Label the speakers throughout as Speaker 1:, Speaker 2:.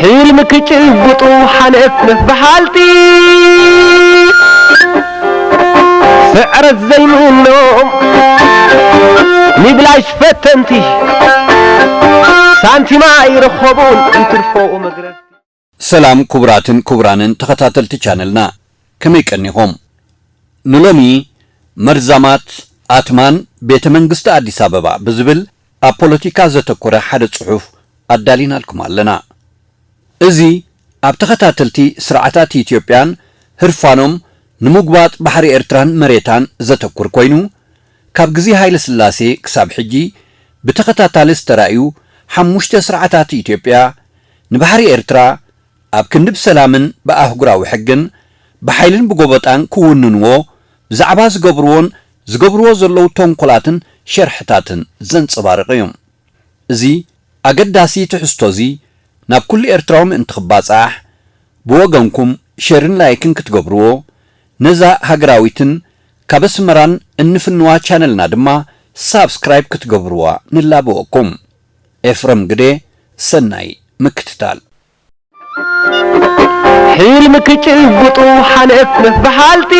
Speaker 1: ሕልሚ ክጭብጡ ሓንእት ምስ በሃልቲ ስዕረት ዘይምኖም ሚብላሽ ፈተንቲ ሳንቲም ኣይረኸቡን እንትርፎ መግረፍቲ ሰላም
Speaker 2: ኩቡራትን ኩቡራንን ተኸታተልቲ ቻነልና ከመይ ቀኒኹም ንሎሚ መርዛማት ኣትማን ቤተ መንግስቲ ኣዲስ ኣበባ ብዝብል ኣብ ፖለቲካ ዘተኮረ ሓደ ጽሑፍ ኣዳሊናልኩም ኣለና እዚ ኣብ ተኸታተልቲ ስርዓታት ኢትዮጵያን ህርፋኖም ንሙጉባጥ ባሕሪ ኤርትራን መሬታን ዘተኩር ኮይኑ ካብ ግዜ ሃይለስላሴ ክሳብ ሕጂ ብተኸታታሊ ዝተራእዩ ሓሙሽተ ስርዓታት ኢትዮጵያ፣ ንባሕሪ ኤርትራ ኣብ ክንዲ ብሰላምን ብኣህጉራዊ ሕግን፣ ብሓይልን ብጎበጣን ክውንንዎ ብዛዕባ ዝገብርዎን ዝገብርዎ ዘለዉ ተንኮላትን ሸርሕታትን ዘንጸባርቕ እዩ። እዚ ኣገዳሲ ትሕዝቶ'ዚ ናብ ኩሉ ኤርትራዊ ምእንቲ ክባጻሕ፣ ብወገንኩም ሸርን ላይክን ክትገብርዎ ነዛ ሃገራዊትን ካብ ኣስመራን እንፍንዋ ቻነልና ድማ ሳብስክራይብ ክትገብርዋ ንላበወኩም። ኤፍረም ግዴ ሰናይ ምክትታል።
Speaker 1: ሕልሚ ክጭብጡ ሓልፍ ምስ በሃልቲ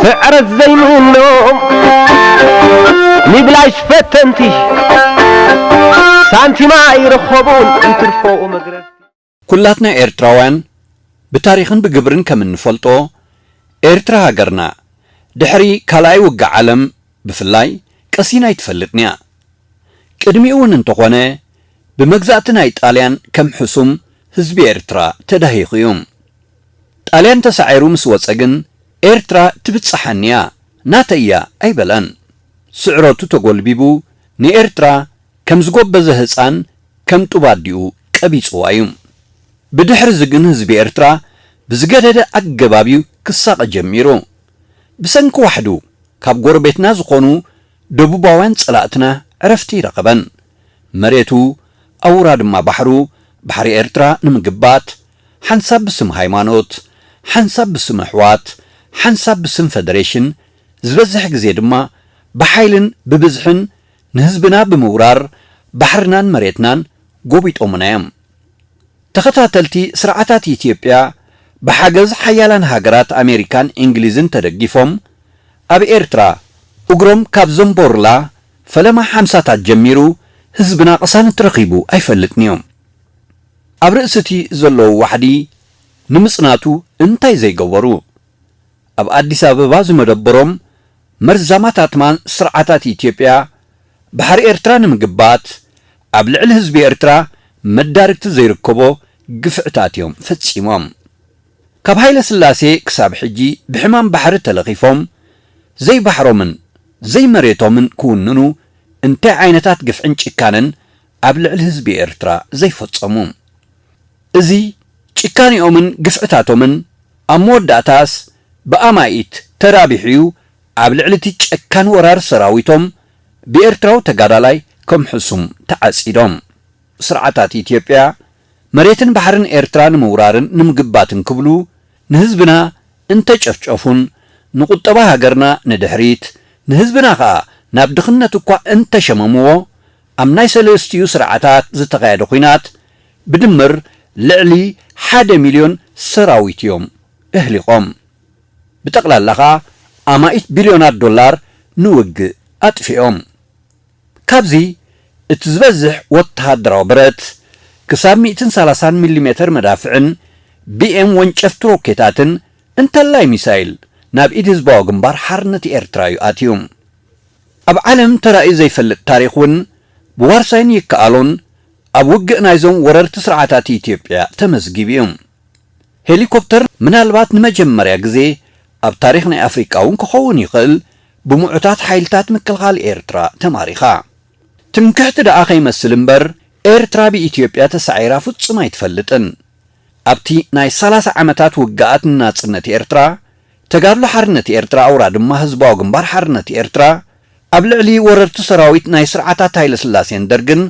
Speaker 1: ስዕረት ዘይምኖም ንብላሽ ፈተንቲ ሳንቲም ኣይረኸቡን እንትርፎ መግረፍቲ። ኩላትና
Speaker 2: ኤርትራውያን ብታሪኽን ብግብርን ከም እንፈልጦ፣ ኤርትራ ሃገርና፣ ድሕሪ ካልኣይ ውግእ ዓለም ብፍላይ ቀሲና ኣይትፈልጥን'ያ። ቅድሚኡ'ውን እንተኾነ ብመግዛእቲ ናይ ጣልያን ከም ሕሱም ህዝቢ ኤርትራ ተዳሂኹ'ዩ። ጣልያን ተሳዒሩ ምስ ወጸ ግን ኤርትራ ትብጸሓኒ'ያ፣ ናተይ'ያ ኣይበለን። ስዕረቱ ተጎልቢቡ ንኤርትራ ከም ዝጎበዘ ህጻን ከም ጡብ ኣዲኡ ቀቢጽዋ እዩ። ብድሕርዚ ግን ህዝቢ ኤርትራ ብዝገደደ ኣገባብ እዩ ክሳቐ ጀሚሩ። ብሰንኪ ዋሕዱ ካብ ጎረቤትና ዝኾኑ ደቡባውያን ጸላእትና ዕረፍቲ ኣይረኸበን። መሬቱ ኣውራ ድማ ባሕሩ፣ ባሕሪ ኤርትራ፣ ንምግባት፣ ሓንሳብ ብስም ሃይማኖት፣ ሓንሳብ ብስም ኣሕዋት፣ ሓንሳብ ብስም ፈደሬሽን፣ ዝበዝሕ ግዜ ድማ ብሓይልን ብብዝሕን፣ ንህዝብና ብምውራር ባሕርናን መሬትናን ጎቢጦሙና እዮም። ተኸታተልቲ ስርዓታት ኢትዮጵያ ብሓገዝ ሓያላን ሃገራት ኣሜሪካን ኢንግሊዝን ተደጊፎም ኣብ ኤርትራ እግሮም ካብ ዘንቦሩላ ፈለማ ሓምሳታት ጀሚሩ ህዝብና ቅሳነት ረኺቡ ኣይፈልጥን እዩ። ኣብ ርእሲቲ ዘለዉ ዋሕዲ ንምጽናቱ እንታይ ዘይገበሩ? ኣብ ኣዲስ ኣበባ ዝመደበሮም መርዛማት ኣትማን ስርዓታት ኢትዮጵያ ባሕሪ ኤርትራ ንምግባት ኣብ ልዕሊ ህዝቢ ኤርትራ መዳርግቲ ዘይርከቦ ግፍዕታት እዮም ፈጺሞም። ካብ ሃይለስላሴ ክሳብ ሕጂ ብሕማም ባሕሪ ተለኺፎም ዘይባሕሮምን ዘይመሬቶምን ክውንኑ እንታይ ዓይነታት ግፍዕን ጭካነን ኣብ ልዕሊ ህዝቢ ኤርትራ ዘይፈጸሙ። እዚ ጭካኔኦምን ግፍዕታቶምን ኣብ መወዳእታስ ብኣማኢት ተራቢሑ'ዩ ኣብ ልዕሊ'ቲ ጨካን ወራር ሰራዊቶም ብኤርትራዊ ተጋዳላይ ከም ሕሱም ተዓጺዶም። ስርዓታት ኢትዮጵያ መሬትን ባሕርን ኤርትራ ንምውራርን ንምግባትን ክብሉ ንህዝብና እንተጨፍጨፉን ንቁጠባ ሃገርና ንድሕሪት ንህዝብና ከኣ ናብ ድኽነት'ኳ እንተሸመምዎ ኣብ ናይ ሰለስቲኡ ስርዓታት ዝተኻየደ ኹናት ብድምር ልዕሊ ሓደ ሚልዮን ሰራዊት እዮም እህሊቖም። ብጠቕላላ ከኣ ኣማኢት ቢልዮናት ዶላር ንውግእ ኣጥፊኦም። ካብዚ እቲ ዝበዝሕ ወተሃደራዊ ብረት፣ ክሳብ ሚእትን ሰላሳን ሚሊሜተር መዳፍዕን ቢኤም ወንጨፍቲ ሮኬታትን እንተላይ ሚሳይል ናብ ኢድ ህዝባዊ ግንባር ሓርነት ኤርትራ እዩ ኣትዩ። ኣብ ዓለም ተራእዩ ዘይፈልጥ ታሪኽ እውን ብዋርሳይን ይከኣሎን ኣብ ውግእ ናይዞም ወረርቲ ስርዓታት ኢትዮጵያ ተመዝጊቡ እዩ። ሄሊኮፕተር ምናልባት ንመጀመርያ ግዜ ኣብ ታሪኽ ናይ ኣፍሪቃ እውን ክኸውን ይኽእል ብምዑታት ሓይልታት ምክልኻል ኤርትራ ተማሪኻ። ትምክሕቲ ደኣ ከይመስል እምበር ኤርትራ ብኢትዮጵያ ተሳዒራ ፍጹም ኣይትፈልጥን። ኣብቲ ናይ ሰላሳ ዓመታት ውግኣት ንናጽነት ኤርትራ ተጋድሎ ሓርነት ኤርትራ ኣውራ ድማ ህዝባዊ ግንባር ሓርነት ኤርትራ ኣብ ልዕሊ ወረርቲ ሰራዊት ናይ ስርዓታት ሃይለስላሴን ደርግን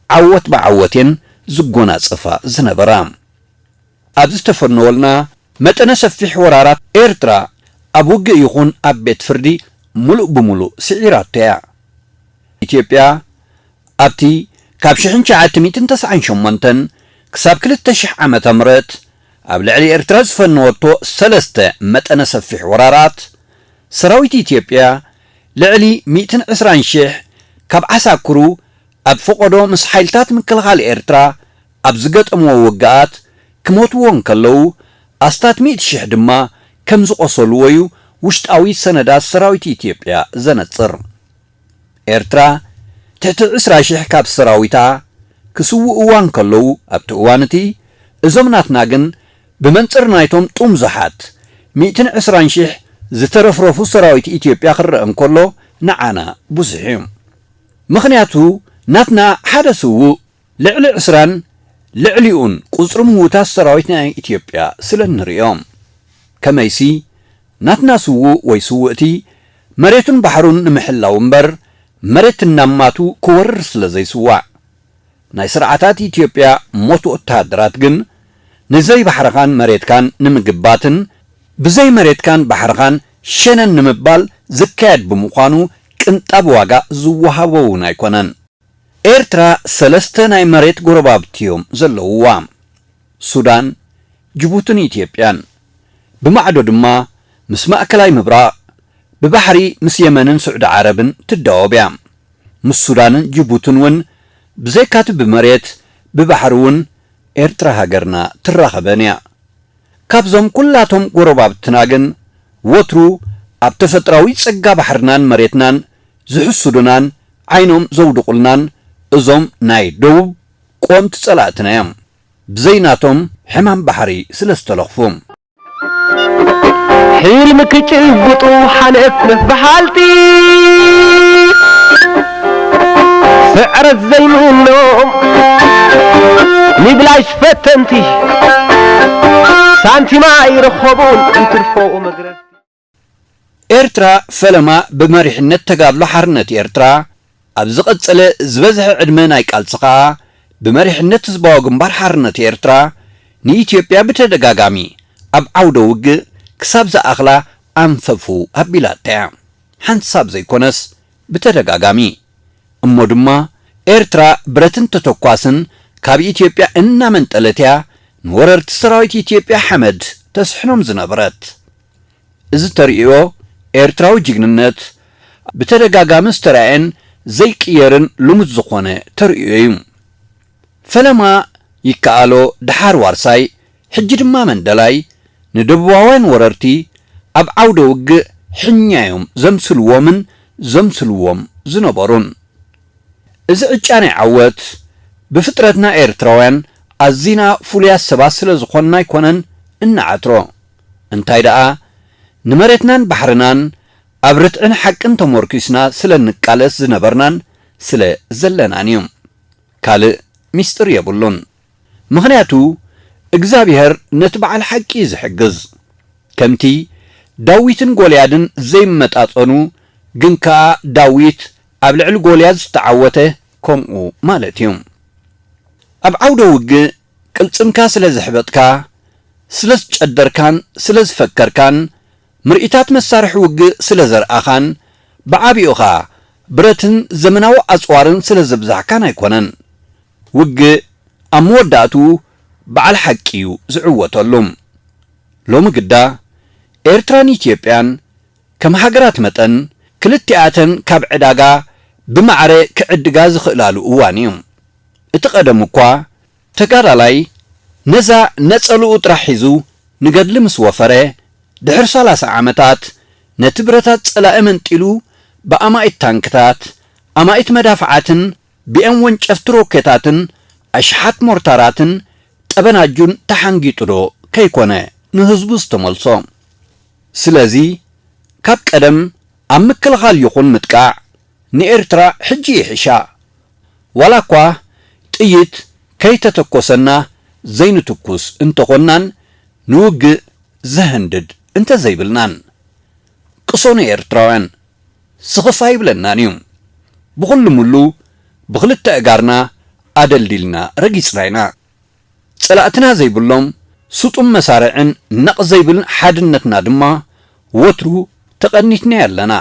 Speaker 2: ዓወት ብዓወት እየን ዝጎናጸፋ ዝነበራ። ኣብ ዝተፈነወልና መጠነ ሰፊሕ ወራራት ኤርትራ ኣብ ውግእ ይኹን ኣብ ቤት ፍርዲ ምሉእ ብምሉእ ስዒራቶ እያ። ኢትዮጵያ ኣብቲ ካብ ሽሕን ትሽዓተ ሚእትን ተስዓን ሸሞንተን ክሳብ ክልተ ሽሕ ዓመተ ምህረት ኣብ ልዕሊ ኤርትራ ዝፈነወቶ ሰለስተ መጠነ ሰፊሕ ወራራት፣ ሰራዊት ኢትዮጵያ ልዕሊ ሚእትን ዕስራን ሽሕ ካብ ዓሳክሩ ኣብ ፈቖዶ ምስ ሓይልታት ምክልኻል ኤርትራ ኣብ ዝገጠምዎ ውግኣት ክሞትዎ እንከለዉ፣ ኣስታት ሚእቲ ሽሕ ድማ ከምዝቖሰሉዎ'ዩ ውሽጣዊ ሰነዳት ሰራዊት ኢትዮጵያ ዘነጽር። ኤርትራ ትሕቲ ዕስራ ሽሕ ካብ ሰራዊታ ክስውእዋ እንከለዉ ኣብቲ እዋን እቲ እዞም ናትና ግን ብመንጽር ናይቶም ጡምዙሓት ሚእትን ዕስራን ሽሕ ዝተረፍረፉ ሰራዊት ኢትዮጵያ ክረኣ እንከሎ ንዓና ብዙሕ እዩ ምኽንያቱ ናትና ሓደ ስውእ ልዕሊ ዕስራን ልዕሊኡን ቁጽሪ ምዉታት ሰራዊት ናይ ኢትዮጵያ ስለ እንርእዮም። ከመይሲ ናትና ስዉእ ወይ ስውእቲ መሬቱን ባሕሩን ንምሕላው እምበር መሬት እናማቱ ክወርር ስለ ዘይስዋእ። ናይ ስርዓታት ኢትዮጵያ ሞት ወተሃደራት ግን ንዘይ ባሕርኻን መሬትካን ንምግባትን ብዘይ መሬትካን ባሕርኻን ሸነን ንምባል ዝካየድ ብምዃኑ ቅንጣብ ዋጋ ዝወሃቦ'ውን ኣይኮነን። ኤርትራ ሰለስተ ናይ መሬት ጎረባብቲ እዮም ዘለውዋ፣ ሱዳን፣ ጅቡትን ኢትዮጵያን። ብማዕዶ ድማ ምስ ማእከላይ ምብራቕ፣ ብባሕሪ ምስ የመንን ስዑዲ ዓረብን ትዳወብ እያ። ምስ ሱዳንን ጅቡትን እውን ብዘይካቲ ብመሬት፣ ብባሕሪ እውን ኤርትራ ሃገርና ትራኸበን እያ። ካብዞም ኩላቶም ጎረባብትና ግን ወትሩ ኣብ ተፈጥራዊ ጸጋ ባሕርናን መሬትናን ዝሕሱዱናን ዓይኖም ዘውድቁልናን እዞም ናይ ደቡብ ቆምቲ ፀላእትና እዮም ብዘይ ናቶም ሕማም ባሕሪ ስለ ዝተለኽፉ።
Speaker 1: ሕልሚ ክጭብጡ ሓንፍ ንፍ በሃልቲ ስዕረት ዘይምኖም ንብላሽ ፈተንቲ ሳንቲም ኣይረኸቡን እንትርፎ መግረፍቲ።
Speaker 2: ኤርትራ ፈለማ ብመሪሕነት ተጋድሎ ሓርነት ኤርትራ ኣብ ዝቐጸለ ዝበዝሐ ዕድመ ናይ ቃልሲ ከኣ ብመሪሕነት ህዝባዊ ግንባር ሓርነት ኤርትራ ንኢትዮጵያ ብተደጋጋሚ ኣብ ዓውደ ውግእ ክሳብ ዝኣኽላ ኣንፈፉ ኣቢላታ'ያ። ሓንሳብ ዘይኮነስ ብተደጋጋሚ። እሞ ድማ ኤርትራ ብረትን ተተኳስን ካብ ኢትዮጵያ እናመንጠለት'ያ ንወረርቲ ሰራዊት ኢትዮጵያ ሓመድ ተስሕኖም ዝነበረት። እዚ ተርእዮ ኤርትራዊ ጅግንነት ብተደጋጋሚ ዝተራእየን ዘይቅየርን ልሙድ ዝኾነ ተርእዮ እዩ። ፈለማ ይከኣሎ ደሓር ዋርሳይ ሕጂ ድማ መንደላይ ንደቡባውያን ወረርቲ ኣብ ዓውደ ውግእ ሕኛ እዮም ዘምስልዎምን ዘምስልዎም ዝነበሩን። እዚ ዕጫ ናይ ዓወት ብፍጥረትና ኤርትራውያን ኣዚና ፍሉያት ሰባት ስለዝኾንና ኣይኮነን እንዓትሮ። እንታይ ደኣ ንመሬትናን ባሕርናን ኣብ ርትዕን ሓቅን ተሞርኲስና ስለ እንቃለስ ዝነበርናን ስለ ዘለናን እዩ። ካልእ ሚስጢር የብሉን። ምኽንያቱ እግዝኣብሄር ነቲ በዓል ሓቂ እዩ ዝሕግዝ። ከምቲ ዳዊትን ጎልያድን ዘይመጣጸኑ ግን ከኣ ዳዊት ኣብ ልዕሊ ጎልያድ ዝተዓወተ ከምኡ ማለት እዩ። ኣብ ዓውደ ውግእ ቅልጽምካ ስለ ዘሕበጥካ፣ ስለ ዝጨደርካን ስለ ዝፈከርካን፣ ምርኢታት መሳርሒ ውግእ ስለ ዘርኣኻን፣ ብዓቢኡ ኸኣ ብረትን ዘመናዊ ኣጽዋርን ስለ ዘብዛሕካን ኣይኮነን። ውግእ ኣብ መወዳእትኡ በዓል ሓቂ'ዩ ዝዕወተሉ። ሎሚ ግዳ፣ ኤርትራን ኢትዮጵያን ከም ሃገራት መጠን፣ ክልቲኣተን ካብ ዕዳጋ ብማዕረ ክዕድጋ ዝኽእላሉ እዋን'ዩ። እቲ ቀደሙ እኳ ተጋዳላይ ነዛ ነጸልኡ ጥራሕ ሒዙ ንገድሊ ምስ ወፈረ፣ ድሕሪ ሰላሳ ዓመታት ነቲ ብረታት ጸላኢ መንጢሉ ብኣማኢት ታንክታት፣ ኣማኢት መዳፍዓትን ብኤም ወንጨፍቲ ሮኬታትን ኣሽሓት ሞርታራትን ጠበናጁን ተሓንጊጡዶ ከይኮነ ንህዝቡ ዝተመልሶ? ስለዚ ካብ ቀደም ኣብ ምክልኻል ይኹን ምጥቃዕ ንኤርትራ ሕጂ ይሕሻ ዋላኳ ጥይት ከይተተኮሰና ዘይንትኩስ እንተኾንናን ንውግእ ዘህንድድ እንተዘይብልናን። ቅሶኑ ኤርትራውያን ስኽፍ ኣይብለናን እዩ። ብኹሉምሉ ብኽልተ እጋርና ኣደልዲልና ረጊጽና ኢና። ጸላእትና ዘይብሎም ስጡም መሳርዕን ነቕ ዘይብል ሓድነትና ድማ ወትሩ ተቐኒትናዮ ኣለና።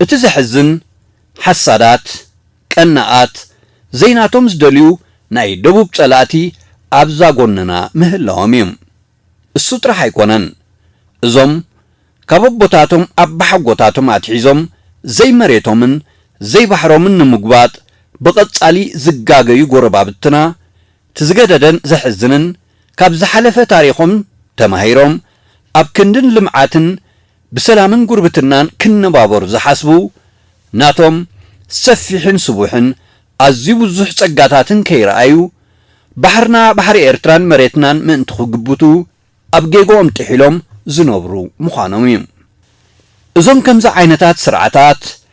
Speaker 2: እቲ ዘሕዝን ሓሳዳት ቀናኣት ዘይናቶም ዝደልዩ ናይ ደቡብ ጸላእቲ ኣብዛ ጎንና ምህላዎም እዩ። እሱ ጥራሕ ኣይኮነን እዞም ካብ ኣቦታቶም ኣባሓጎታቶም ኣትሒዞም ዘይመሬቶምን ዘይባሕሮምን ንምጉባጥ ብቐጻሊ ዝጋገዩ ጎረባብትና እቲ ዝገደደን ዘሕዝንን ካብ ዝሓለፈ ታሪኾም ተማሂሮም ኣብ ክንድን ልምዓትን ብሰላምን ጉርብትናን ክንባበሩ ዝሓስቡ፣ ናቶም ሰፊሕን ስቡሕን ኣዝዩ ብዙሕ ጸጋታትን ከይረኣዩ፣ ባሕርና ባሕሪ ኤርትራን መሬትናን ምእንቲ ክግብቱ ኣብ ጌግኦም ጥሒሎም ዝነብሩ ምዃኖም'ዩ። እዞም ከምዚ ዓይነታት ስርዓታት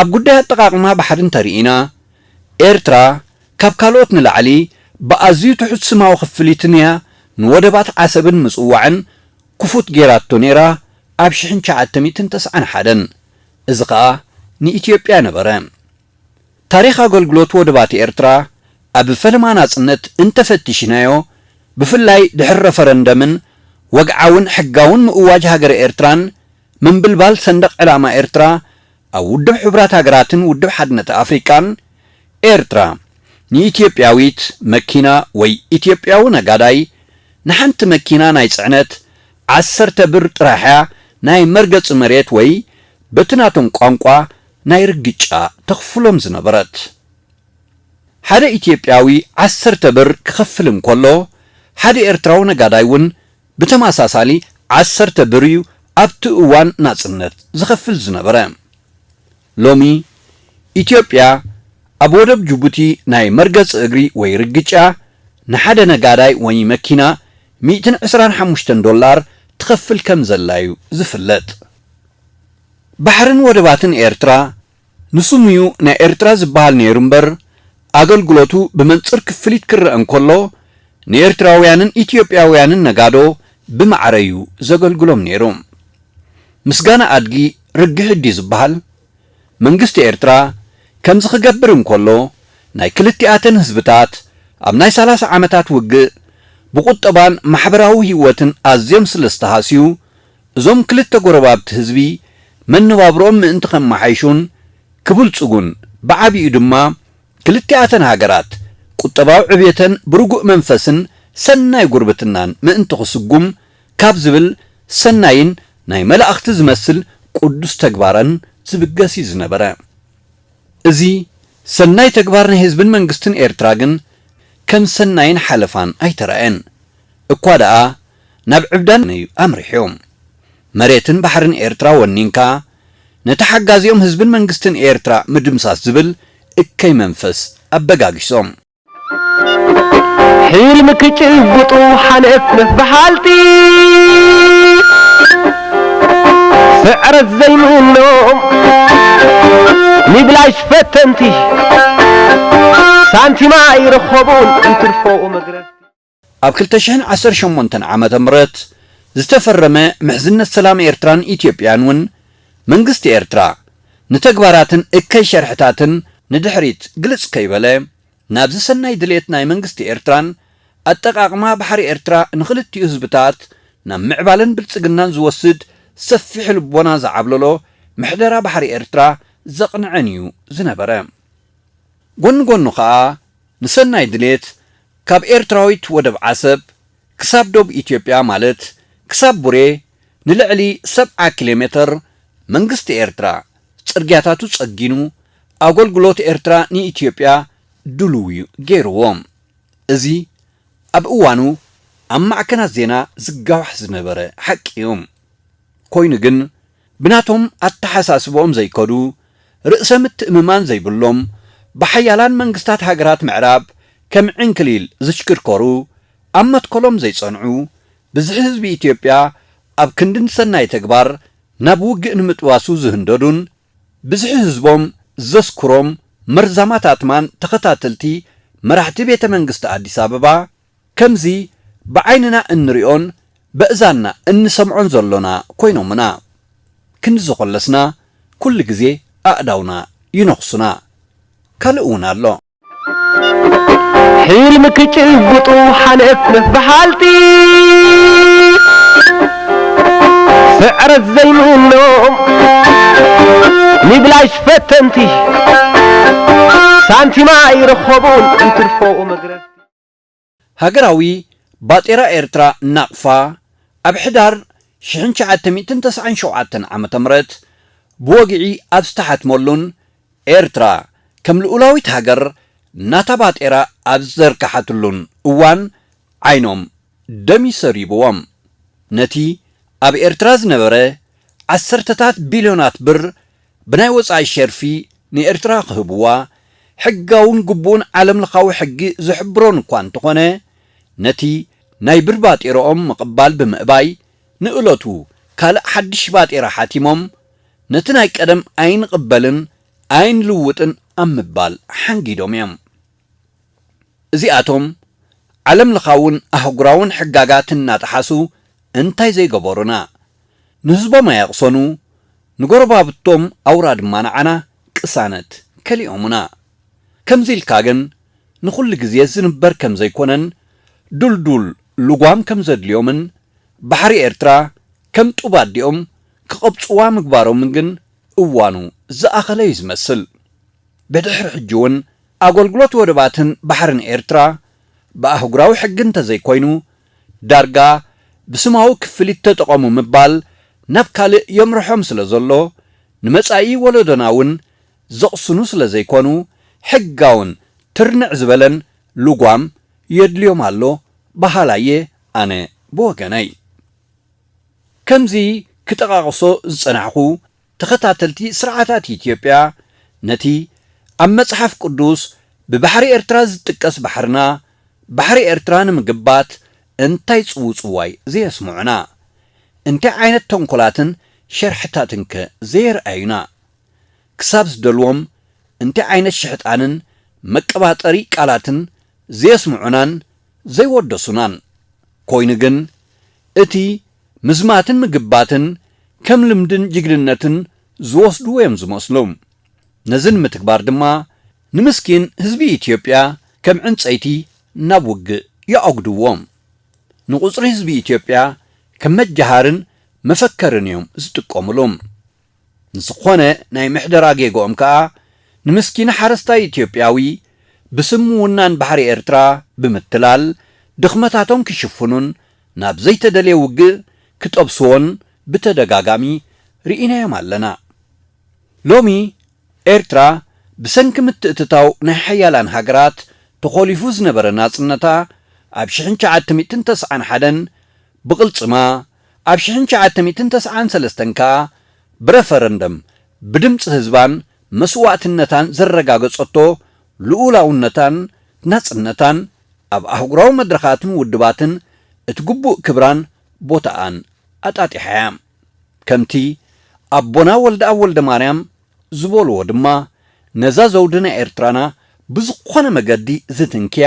Speaker 2: ኣብ ጉዳይ ኣጠቓቕማ ባሕሪ እንተርኢና፣ ኤርትራ ካብ ካልኦት ንላዕሊ ብኣዝዩ ትሑት ስማዊ ክፍሊትን እያ ንወደባት ዓሰብን ምጽዋዕን ክፉት ገይራቶ ነይራ ኣብ ሽሕን ትሽዓተ ሚእትን ተስዓን ሓደን። እዚ ከኣ ንኢትዮጵያ ነበረ። ታሪኽ ኣገልግሎት ወደባት ኤርትራ ኣብ ፈለማ ናጽነት እንተፈቲሽናዮ፣ ብፍላይ ድሕሪ ረፈረንደምን ወግዓውን ሕጋውን ምእዋጅ ሃገረ ኤርትራን፣ ምንብልባል ሰንደቕ ዕላማ ኤርትራ ኣብ ውድብ ሕቡራት ሃገራትን ውድብ ሓድነት ኣፍሪቃን፣ ኤርትራ ንኢትዮጵያዊት መኪና ወይ ኢትዮጵያዊ ነጋዳይ ንሓንቲ መኪና ናይ ጽዕነት ዓሰርተ ብር ጥራሕ'ያ ናይ መርገጺ መሬት ወይ በቲ ናቶም ቋንቋ ናይ ርግጫ ተኽፍሎም ዝነበረት። ሓደ ኢትዮጵያዊ ዓሰርተ ብር ክኸፍል እንከሎ፣ ሓደ ኤርትራዊ ነጋዳይ'ውን ብተመሳሳሊ ዓሰርተ ብር እዩ ኣብቲ እዋን ናጽነት ዝኸፍል ዝነበረ። ሎሚ ኢትዮጵያ ኣብ ወደብ ጅቡቲ ናይ መርገጺ እግሪ ወይ ርግጫ ንሓደ ነጋዳይ ወይ መኪና ሚእትን ዕስራን ሓሙሽተን ዶላር ትኸፍል ከምዘላዩ ዝፍለጥ። ባሕርን ወደባትን ኤርትራ ንስሙ'ዩ ናይ ኤርትራ ዝበሃል ነይሩ እምበር፣ ኣገልግሎቱ ብመንጽር ክፍሊት ክረኣ እንከሎ፣ ንኤርትራውያንን ኢትዮጵያውያንን ነጋዶ ብማዕረ'ዩ ዘገልግሎም ነይሩ። ምስጋና ኣድጊ ርግህ እድዩ ዝበሃል? መንግስቲ ኤርትራ ከምዚ ክገብር እንከሎ፣ ናይ ክልቲኣተን ህዝብታት ኣብ ናይ ሰላሳ ዓመታት ውግእ ብቑጠባን ማሕበራዊ ህይወትን ኣዝዮም ስለ ዝተሃስዩ፣ እዞም ክልተ ጎረባብቲ ህዝቢ መነባብሮኦም ምእንቲ ከመሓይሹን ክብልጽጉን ብዓቢኡ ድማ ክልቲኣተን ሃገራት ቁጠባዊ ዕብየተን ብርጉእ መንፈስን ሰናይ ጉርብትናን ምእንቲ ክስጉም ካብ ዝብል ሰናይን ናይ መላእኽቲ ዝመስል ቅዱስ ተግባረን ዝብገስ እዩ ዝነበረ። እዚ ሰናይ ተግባር ናይ ህዝብን መንግስትን ኤርትራ ግን ከም ሰናይን ሓለፋን ኣይተራእየን። እኳ ደኣ ናብ ዕብዳን እዩ ኣምሪሑ። መሬትን ባሕርን ኤርትራ ወኒንካ፣ ነቲ ሓጋዚኦም ህዝብን መንግስትን ኤርትራ ምድምሳስ ዝብል እከይ መንፈስ ኣበጋጊሶም።
Speaker 1: ሕልሚ ክጭብጡ ሓለፍለፍ በሃልቲ፣ ስዕረት ዘይምኖም ንብላሽ ፈተንቲ፣ ሳንቲም ኣይረኸቡን እንትርፎ መግረፍቲ። ኣብ ክልተ
Speaker 2: ሽሕን ዓሰርተ ሸሞንተን ዓመተ ምህረት ዝተፈረመ ምሕዝነት ሰላም ኤርትራን ኢትዮጵያን እውን መንግስቲ ኤርትራ ንተግባራትን እከይ ሸርሕታትን ንድሕሪት ግልጽ ከይበለ ናብዚ ሰናይ ድሌት ናይ መንግስቲ ኤርትራን ኣጠቓቕማ ባሕሪ ኤርትራ ንኽልቲኡ ህዝብታት ናብ ምዕባለን ብልጽግናን ዝወስድ ሰፊሕ ልቦና ዝዓብለሎ ምሕደራ ባሕሪ ኤርትራ ዘቕንዐን እዩ ዝነበረ። ጎኒ ጎኑ ከኣ ንሰናይ ድሌት ካብ ኤርትራዊት ወደብ ዓሰብ ክሳብ ዶብ ኢትዮጵያ ማለት ክሳብ ቡሬ ንልዕሊ ሰብዓ ኪሎሜተር መንግስቲ ኤርትራ ጽርግያታቱ ጸጊኑ ኣጎልጉሎት ኤርትራ ንኢትዮጵያ ድሉውዩ ገይሩዎ። እዚ ኣብ እዋኑ ኣብ ማዕከናት ዜና ዝጋዋሕ ዝነበረ ሓቂዩ። ኮይኑ ግን ብናቶም ኣተሓሳስብኦም ዘይከዱ፣ ርእሰ ምትእምማን ዘይብሎም፣ ብሓያላን መንግስታት ሃገራት ምዕራብ ከም ዕንክሊል ዝሽክርከሩ፣ ኣብ መትከሎም ዘይጸንዑ፣ ብዝሒ ህዝቢ ኢትዮጵያ ኣብ ክንዲ ንሰናይ ተግባር ናብ ውግእ ንምጥባሱ ዝህንደዱን፣ ብዝሒ ህዝቦም ዘስክሮም መርዛማት ኣትማን ተኸታተልቲ መራሕቲ ቤተ መንግስቲ ኣዲስ ኣበባ፣ ከምዚ ብዓይንና እንሪኦን በእዛንና እንሰምዖን ዘሎና ኮይኖምና ክንዲ ዘኾለስና ኩሉ ግዜ ኣእዳውና ይነኽሱና። ካልእ እውን ኣሎ።
Speaker 1: ሕልሚ ክጭብጡ ሓንፍንፍ በሃልቲ ስዕረት ዘይምኖም ንብላሽ ፈተንቲ ሳንቲም ኣይረኸቡን እንትርፎ መግረፍቲ። ሃገራዊ
Speaker 2: ባጤራ ኤርትራ፣ ናቕፋ፣ ኣብ ሕዳር ሽሕን ትሽዓተ ሚእትን ተስዓን ሸውዓተን ዓመተ ምህረት ብወግዒ ኣብ ዝተሓትመሉን ኤርትራ ከም ልኡላዊት ሃገር ናታ ባጤራ ኣብ ዝዘርግሓትሉን እዋን ዓይኖም ደም ሰሪቡዎም ነቲ ኣብ ኤርትራ ዝነበረ ዓሰርተታት ቢልዮናት ብር ብናይ ወጻኢ ሸርፊ ንኤርትራ ክህብዋ ሕጋውን ግቡእን ዓለምለኻዊ ሕጊ ዝሕብሮን እኳ እንተኾነ፣ ነቲ ናይ ብር ባጤረኦም ምቕባል ብምእባይ ንእለቱ ካልእ ሓድሽ ባጤራ ሓቲሞም ነቲ ናይ ቀደም ኣይንቕበልን ኣይንልውጥን ኣብ ምባል ሓንጊዶም እዮም። እዚኣቶም ዓለምለኻውን ኣህጉራውን ሕጋጋት እናጠሓሱ እንታይ ዘይገበሩና? ንህዝቦም ኣየቕሰኑ፣ ንጎረባብቶም ኣውራ ድማ ንዓና፣ ቅሳነት፣ ከሊኦሙና። ከምዚ ኢልካ ግን ንኹሉ ግዜ ዝንበር ከም ዘይኮነን ድልዱል ልጓም ከም ዘድልዮምን ባሕሪ ኤርትራ ከም ጡብ ኣዲኦም ክቐብጹዋ ምግባሮምን ግን እዋኑ ዝኣኸለ'ዩ ዝመስል። ብድሕሪ ሕጂ እውን ኣገልግሎት ወደባትን ባሕርን ኤርትራ ብኣህጉራዊ ሕጊ እንተዘይኮይኑ ዳርጋ ብስማዊ ክፍሊት ተጠቐሙ ምባል ናብ ካልእ የምርሖም ስለዘሎ ንመጻኢ ወለዶና እውን ዘቕስኑ ስለዘይኮኑ ሕጋውን ትርንዕ ዝበለን ልጓም የድልዮም ኣሎ በሃላይ እየ ኣነ ብወገነይ። ከምዚ ክጠቓቕሶ ዝጸናሕኩ ተኸታተልቲ ስርዓታት ኢትዮጵያ ነቲ ኣብ መጽሓፍ ቅዱስ ብባሕሪ ኤርትራ ዝጥቀስ ባሕርና ባሕሪ ኤርትራ ንምግባት እንታይ ጽውጽዋይ ዘየስምዑና? እንታይ ዓይነት ተንኮላትን ሸርሕታትን ከ ዘየርኣዩና? ክሳብ ዝደልዎም እንታይ ዓይነት ሽሕጣንን መቀባጠሪ ቃላትን ዘየስምዑናን ዘይወደሱናን? ኮይኑ ግን እቲ ምዝማትን ምግባትን ከም ልምድን ጅግንነትን ዝወስድዎ እዮም ዝመስሉ። ነዚ ንምትግባር ድማ ንምስኪን ህዝቢ ኢትዮጵያ ከም ዕንፀይቲ ናብ ውግእ ይኣጉድዎ። ንቁፅሪ ህዝቢ ኢትዮጵያ ከም መጃሃርን መፈከርን እዮም ዝጥቀምሉ። ንዝኾነ ናይ ምሕደራ ጌግኦም ከኣ ንምስኪን ሓረስታይ ኢትዮጵያዊ ብስም ምውናን ባሕሪ ኤርትራ ብምትላል ድኽመታቶም ክሽፍኑን ናብ ዘይተደልየ ውግእ ክጠብስዎን ብተደጋጋሚ ርኢናዮም ኣለና። ሎሚ ኤርትራ ብሰንኪ ምትእትታው ናይ ሓያላን ሃገራት ተኾሊፉ ዝነበረ ናጽነታ ኣብ ሽሕን ትሽዓተ ሚእትን ተስዓን ሓደን ብቕልጽማ፣ ኣብ ሽሕን ትሽዓተ ሚእትን ተስዓን ሰለስተን ከኣ ብረፈረንደም ብድምጺ ህዝባን መስዋእትነታን ዘረጋገጸቶ ልኡላውነታን ናጽነታን ኣብ ኣህጉራዊ መድረኻትን ውድባትን እቲ ግቡእ ክብራን ቦታኣን ኣጣጢሓ እያ። ከምቲ ኣቦና ወልደኣብ ወልደማርያም ዝበሉዎ ድማ ነዛ ዘውዲ ናይ ኤርትራና ብዝኾነ መገዲ ዝትንክያ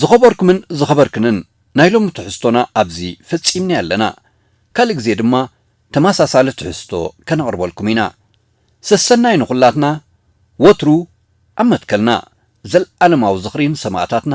Speaker 2: ዝኸበርኩምን ዝኸበርክንን ናይ ሎሚ ትሕዝቶና ኣብዚ ፈጺምናዮ ኣለና። ካልእ ግዜ ድማ ተመሳሳሊ ትሕዝቶ ከነቕርበልኩም ኢና። ሰሰናዩ ንኹላትና ወትሩ ኣብ መትከልና። ዘልኣለማዊ ዝኽሪ ንሰማእታትና